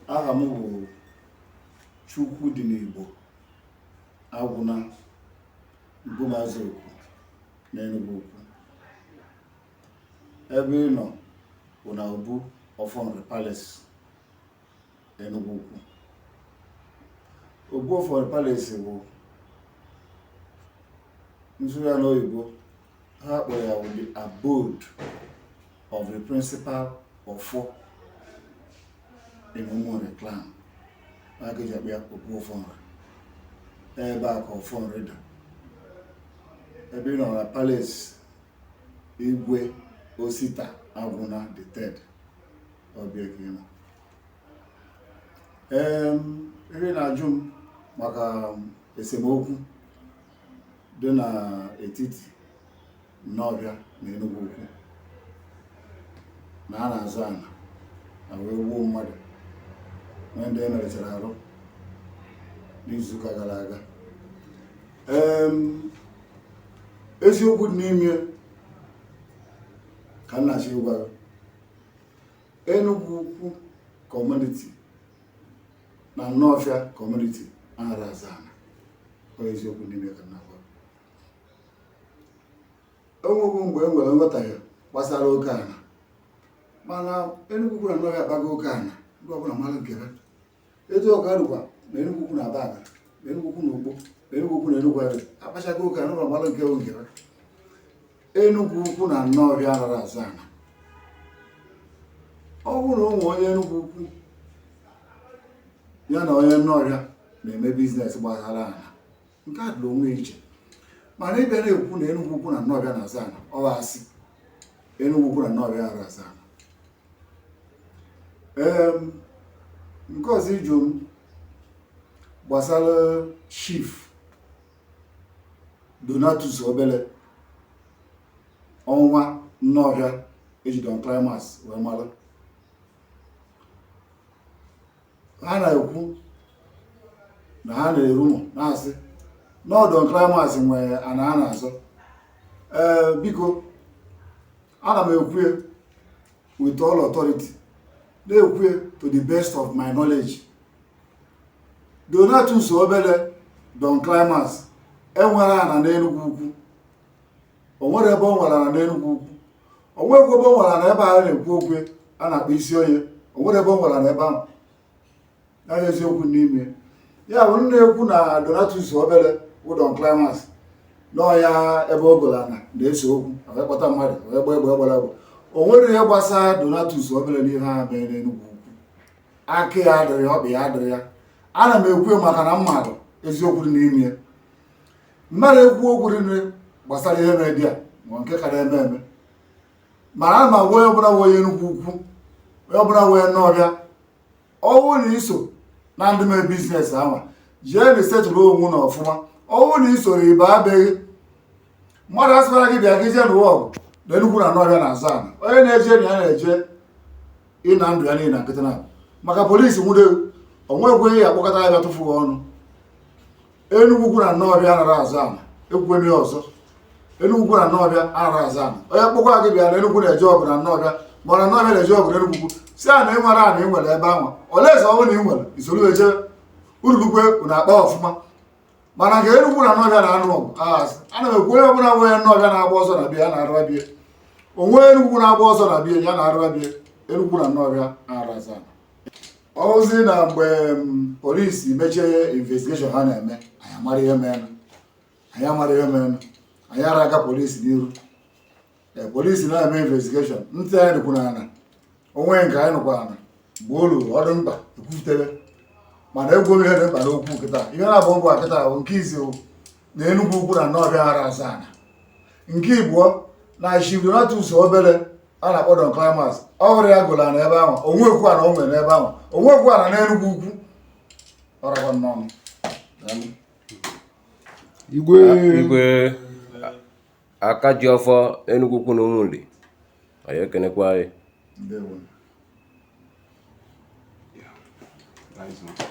aha m bụ chukwudinigbo agwụna bụ maazị okwu na enugwu ukwu ebe ị nọ bụ na obu ọfọ nri palace enugwu ukwu obu ọfọ nri palace bụ nsụgharị n'oyibo ha kpọrọ ya bụ the abode of the principal ọfọ in Umunri clan ya ka e ji akpọ ya obu ọfọ nri ebe a ka ọfọ nri dị ebe ị nọ na palace igwe osita agwụna the third ọ be ya ka ị nọ Em, ihe ị na-ajụ m maka esemokwu dị n'etiti Nawfia na Enugwu Ukwu na a na-azọ ana na wee gbuo mmadụ nwee ndị e merụchara arụ n'izuụka gara aga eziokwu dị n'ime ka m na-achọ ịgwa gị Enugwu Ukwu community na Nawfia community anara azọ ana ọ eziokwu n'ime ka m na-agwa e nwebu mgbe e nwere nghọtahie gbasara oke ana mana Enugwu Ukwu na Nawfia akpago oke ana ndị ọbụla mara nke ha etu ọ ka dịkwa na Enugwu Ukwu na Abagana na Enugwu Ukwu na Ukpo na Enugwu Ukwu na Enugwu Agidi akpachago oke ana ndị ọbụla mara nke bụ nke ha Enugwu Ukwu na Nawfia anara azọ ana ọ bụrụ na o nwee onye Enugwu Ukwu ya na onye Nawfia na-eme business gbasara ana nke a dịrị onwe iche mana ịbịa na-ekwu na Enugwu Ukwu na Nawfia na-azọ ana ọ bụ asị Enugwu Ukwu na Nawfia anara azọ ana ee nke ọzọ ị jụ m gbasara chief Donatus Obele ọnwa Nawfia e ji Don Climax wee mara ha na-ekwu na ha na-erumour na-asị na Don Climax nwere ana a na-azọ ee biko ana m ekwu ya with all authority na-ekwu ya to the best of my knowledge Donatus Obele Don Climax enwerọ ana n'Enugwu Ukwu o nwerọ ebe o nwere ana n'Enugwu Ukwu o nwekwa ebe o nwere ana ebe a na-ekwu okwu a na-akpọ Isionye o nwerọ ebe o nwere ana ebe ahụ naghị eziokwu n'ime ya bụ ndị na-ekwu na Donatus Obele bụ Don Climax na ọ ya ebe o golu ana na-ese okwu wee kpọta mmadụ wee gba egbe gbara egbe o nwerọ ihe gbasara Donatus Obele n'ihe ha mee n'Enugwu aka ya adịrọ ya ọkpa ya adịrọ ya ana m ekwu ya maka na m maara eziokwu dị n'ime ya mmadụ ekwu okwu dị nri gbasara ihe na-edi a ma nke ka na-eme eme ma a ma onye ọbụla bụ onye Enugwu Ukwu onye ọbụla bụ onye Nọfịa ọ bụrụ na i so na ndị mee biznes ahụ jee na isetụrụ onwe na ọfụma ọ bụrụ na isoro ibe abịaghị mmadụ asịkwara gị bịa gị jee nụwa ọgụ na Enugwu na Nọfịa na-azọ ana onye na-eje na ya na-eje ịna ndụ ya n'iyi na nkịtị na maka polisi nwude onwekwe ya akpọkọta ya bịa tụfuo ọnụ Enugwu Ukwu na Nọfịa anara azọ ana ekwukwe m ya ọzọ Enugwu Ukwu na Nọfịa anara azọ ana onye kpọkwa gị bịa na Enugwu na-eje ọgụ na Nọfịa ma na Nọfịa na-eje ọgụ na Enugwu Ukwu sị ya na ị nwere ana ị nwere ebe anwa olee eze ọ bụrụ na ị nwere i soro eje ururukwe na akpa ọfụma mana nke Enugwu na Nọfịa na-anụ ọgụ asị ana m ekwu onye ọbụla onye Nọfịa na-agba ọsọ na be ya ya naruba be ya onye Enugwu na-agba ọsọ na be ya ya naruba be ya Enugwu na Nọfịa anara azọ ọ zi na mgbe mm, polisi mechie investigeshọn ha na-eme anyị amara ihe mere anyị amara ihe mere anyị ara aga polisi n'iru Eh, polisi na-eme investigeshọn ntị anyị dịkwu n'ana o nwee nke anyị nụkwa ana ọ bụrụ ọ dị mkpa ekwutere mana egwu obi ihe dị mkpa n'okwu kịta ihe naabọ ngwa kịta bụ nke izi na Enugwu Ukwu na Nọfịa ara azọ ana nke ịbọọ na Chief Donatus Obele a na-akpọ Don Climax ọ bụrọ ya golu ana ebe ahụ o nwerọ okwu ana o nwere n'ebe ahụ o nwerọ okwu ana n'Enugwu Ukwu ọrakwa nnọọ Igwe aka ji ọfọ Enugwu Ukwu na Ụmụnri anyị ekenekwa gị ndewo Yeah. Nice one.